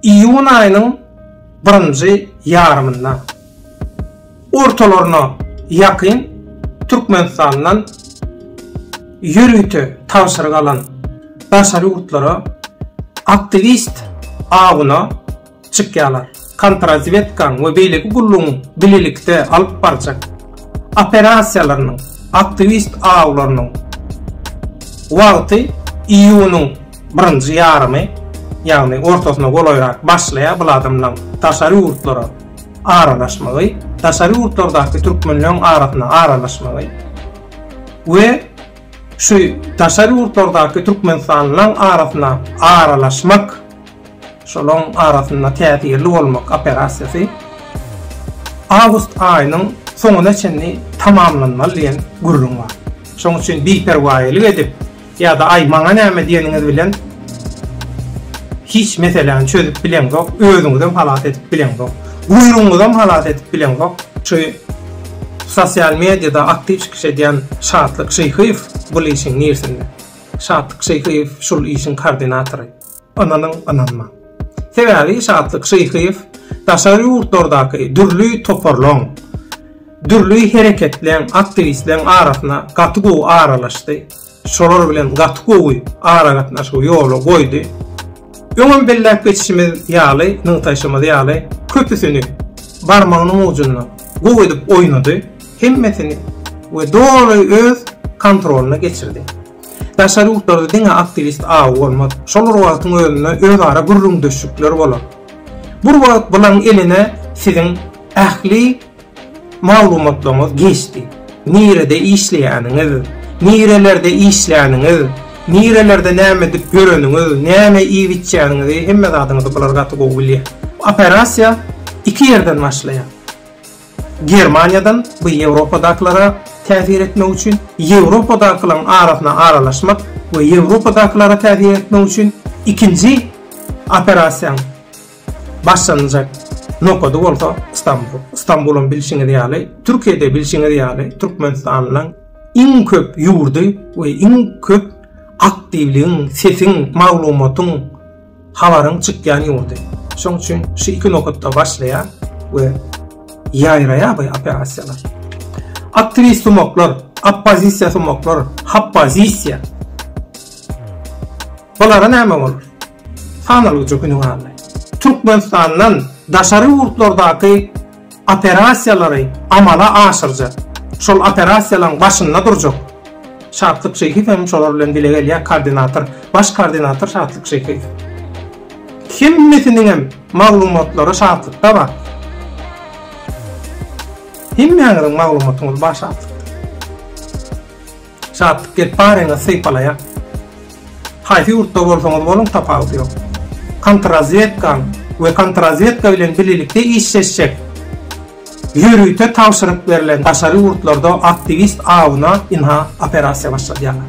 Iýun aýynyň birinji ýarymynda, ortalaryna ýakyn Türkmenistandan ýörite tabşyryk alan daşary ýurtlara aktiwist awuna çykýarlar. Kontrrazwedkaň we beýleki gullugyň bilelikde alyp barjak operasiýalarynyň, aktiwist awlarynyň wagty iýunyň Birinji ýarymy, ýagny ortasyna golaýrak başlaýar bul adamlaň daşary ýurtlara aralaşmagy, daşary ýurtlardaky türkmenleň arasyna aralaşmagy we şu daşary ýurtlardaky türkmenistanlylaň arasyna aralaşmak, şolaň arasynda täsirli bolmak operasiýasy awgust aýynyň soňuna çenli tamamlanmaly diýen gürrüň bar. Şoň üçin biperwaýylyk edip, Ýa-da aý maňa näme diýeniňiz bilen hiç meseläni çözüp bileňzok, özüňizem halas edip bileňzok. Guýrugyňyzam halas edip bileňzok. Şu sosial mediýada aktiw çykyş edýän Şatlyk Şyhyýew bul işiň nirsinde? Şatlyk Şyhyýew şul işiň kordinatory. Ynanyň, ynanmaň. Sebäbi Şatlyk Şyhyýew daşary ýurtlardaky dürli toparlaryň, dürli hereketleň, aktiwistleriň arasyna gaty gowy aralaşdy. Şolar bilen gaty gowy aragatnaşygy ýola goýdy. Öňem belläp geçişimiz ýaly, nygtaýşymyz ýaly, köpüsini barmagynyň ujunda gowy edip oýnady. Hemmesini we doly öz kontrolyna geçirdi. Daşary ýurtlarda diňe aktiwist awy bolmaz. Şol bir wagtyň özünde özara gürrüňdeşlikler bolar. Bir wagt bulaň eline siziň ähli maglumatlaryňyz geçdi. Nirede işleýäniňiz, nirelerde işläniňiz, nirelerde näme edip ýöreniňiz, näme iýip-içýäniňizi hemme zadyňyzy bular gaty gowy bilýär. Operasiýa iki ýerden başlaýar. Germaniýadan bu Ýewropadakylara täsir etmek üçin, Ýewropadakylaryň arasyna aralaşmak we Ýewropadakylara täsir etmek üçin ikinji operasiýaň başlanjak nokady bolsa Stambul. Stambulam bilşiňiz ýaly, Türkiýede bilşiňiz ýaly Türkmenistanyň iň köp ýurdy we iň köp aktiwligiň, sesiň, maglumatyň, habaryň çykýan ýurdy. Şoň üçin şu iki nokatda başlaýar we ýaýraýar bu operasiýalar. Aktiwist sumaklar, oppozisiýa sumaklar, hoppozisiýa. Bulara näme bolar? Sanalgyja günüň aldy. Türkmenistandan daşary ýurtlardaky operasiýalary amala aşyrjak, şol operasiýalaryň başynda durjak Şatlyk Şeýhiýew hem şolar bilen bile gelýär, koordinator, baş koordinator Şatlyk Şeýhiýew. Hemmesiniňem maglumatlary Şatlykda bar. Hemmäňiziň maglumatyňyz bar Şatlykda. Şatlyk gelip baryňyz sypalaýa. Haýsy ýurtda bolsaňyz boluň tapawudy ýok. Kontrrazwedkaň we kontrrazwedka bilen birlikde işleşjek ýörite tabşyryk berlen daşary ýurtlarda aktiwist awuna ynha operasiýa başladýarlar.